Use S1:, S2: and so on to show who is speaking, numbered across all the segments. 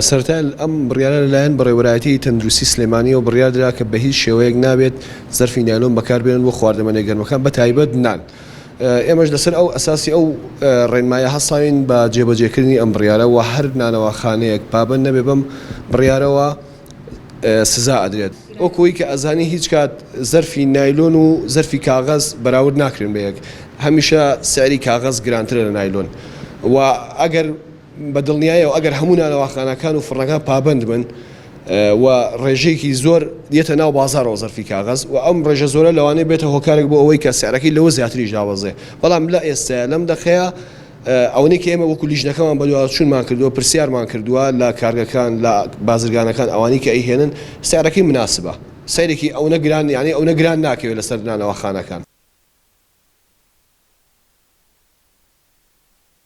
S1: سەرەتای ئەم بڕیارە لەلایەن بەڕێوەبەرایەتیی تەندروستیی سلێمانییەوە بڕیار درا کە بەهیچ شێوەیەک نابێت زەرفی نایلۆن بەکاربێنن بۆ خواردەمەنە گەرمەکان بەتایبەت نان، ئێمەش لەسەر ئەو ئەساسی ئەو ڕێنمایە هەستاوین بە جێبەجێکردنی ئەم بڕیارە و هەر نانەواخانەیەک پابەند نەبێت بەم بڕیارەوە سزا ئەدرێت. وەکو ئەوەی کە ئەزانی هیچ کات زەرفی نایلۆن و زەرفی کاغەز بەراورد ناکرێن بە یەک، هەمیشە سعری کاغەز گرانترە لە نایلۆن و ئەگەر. بە دڵنیایەوە ئەگەر هەموو نانەواخانەکان و فڕنەکان پابەند بن و ڕێژەیەکی زۆر یەتە ناو بازارەوە زەرفی کاغەز و ئەم ڕێژە زۆرە لەوانەیە بێتە هۆکارێک بۆ ئەوەی کە سعرەکەی لەوە زیاتریش دابەزێ بەڵام لە ئێستەیە لەم دەقەیە ئەوەی کە ئێمە وەکو لیژنەکەمان بەدواداچوونمان کردووە پرسیارمان کردووە لە کارگەکان لە بازرگانەکان ئەوانی کە ئەیهێنن سعرەکەی مناسبە سەیرێکی ئەونە گران یعنی ئەونە گران ناکەوێت لەسەر نانەواخانەکان.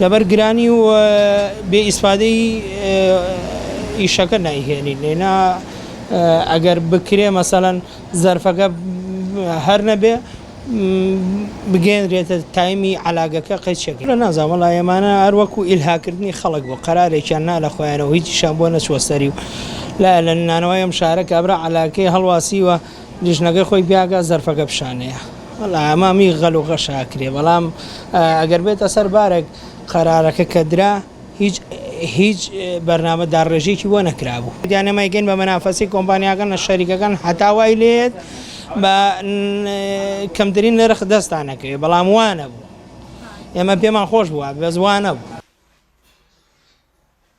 S2: لەبەر گرانی و بێ ئیسفادەی ئیشەکە نایهێنین لێنا ئەگەر بکرێ مەسەلەن زەرفەکە هەر نەبێ بگەێنرێتە تایمی علاگەکە قەیچەکە لە نازان وڵا ئێمانە هەروەکو ئیلهاکردنی خەڵک بۆ قەرارێکیان نا لە خۆیانەوە هیچیشان بۆ نەچوە سەری و لا لە نانەوەی ئەم شارە کابرا علاکەی هەڵواسیوە لیژنەکەی خۆی پیاکە زەرفەکە پیشانەیە وەڵا ئەمە می غەل و غەش ئاکرێ بەڵام ئەگەر بێتە سەر بارێک قەرارەکە کە درا هیچ هیچ بەرنامە داڕێژێکی بۆ نەکرابوو دیانەمای گەن بە مەنافەسی کۆمپانیاکان لە شەریکەکان هەتا وای لێت بە کەمترین نرخ دەستان نەکەوێت بەڵام وانە بوو ئێمە پێمان خۆش بووە بەزوانە بوو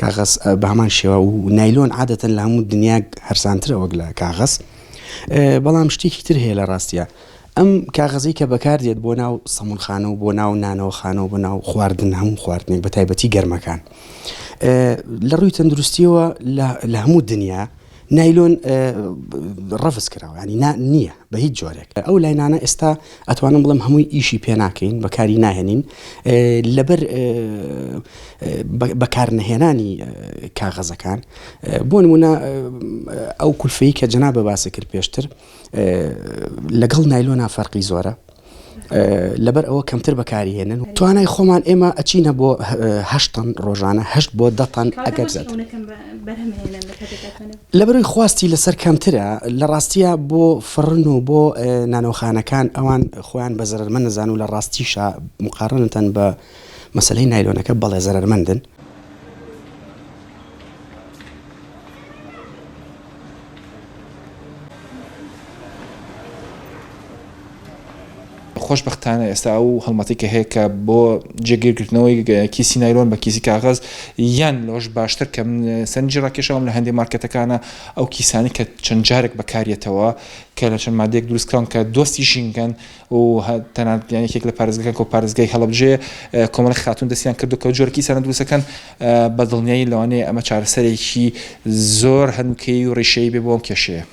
S3: کاغەز بە هەمان شێوە و نایلۆن عادەتەن لە هەموو دنیا هەرسانترە وەک لە کاغەز بەڵام شتێکی تر هەیە لە ڕاستیە ئەم کاغەزی کە بەکاردێت بۆ ناو سەمونخانە و بۆ ناو نانەوە خانەوە بۆ ناو خواردن هەموو خواردنێک بە تایبەتی گەرمەکان لە ڕووی تەندروستیەوە لە هەموو دنیا نایلۆن ڕەفز کراوە ینی نا نییە بە هیچ جۆرێک ئەو لاینانە ئێستا ئەتوانم بڵم هەمووی ئیشی پێ ناکەین بەکاری ناهێنین لەبەر بەکار نەهێنانی کاغەزەکان بۆ نمونە ئەو کولفەی کە جنا بە باسە کرد پێشتر لەگەڵ نایلۆنا فەرقی زۆرە لەبەر ئەوە کەمتر بەکاری هێنن توانای خۆمان ئێمە ئەچینە بۆ هەشتن ڕۆژانە هەشت بۆ دەتەن ئەگەر لەبەروی خواستی لەسەر کەمترە لە ڕاستیە بۆ فڕن و بۆ نانەوخانەکان ئەوان خۆیان بە زەرمە نەزان و لە ڕاستیشە مقارنتەن بە مەسلەی نایلۆنەکە بەڵێ زەرمەندن.
S4: خۆشبەختانە ئێستا ئەو هەڵمەتی کە هەیە کە بۆ جێگیرکردنەوەی کیسی نایلۆن بە کیسی کاغەز یان لەوەش باشتر کە من سەرنجی ڕاکێشەوەم لە هەندێک مارکەتەکانە ئەو کیسانی کە چەند جارێک بەکاریەتەوە کە لە چەند مادەیەک دروستکراون کە دۆستی ژینگەن و تەنانەت یان یەکێک لە پارێزگەکان کە پارێزگای هەڵەبجەیە کۆمەڵێک خاتوون دەستیان کردووە کە جۆرەکی ئیسانە دروستەکەن بە دڵنیایی لەوانەیە ئەمە چارەسەرێکی زۆر هەنووکەیی و ڕیشەیی بێ بۆ ئەم کێشەیە.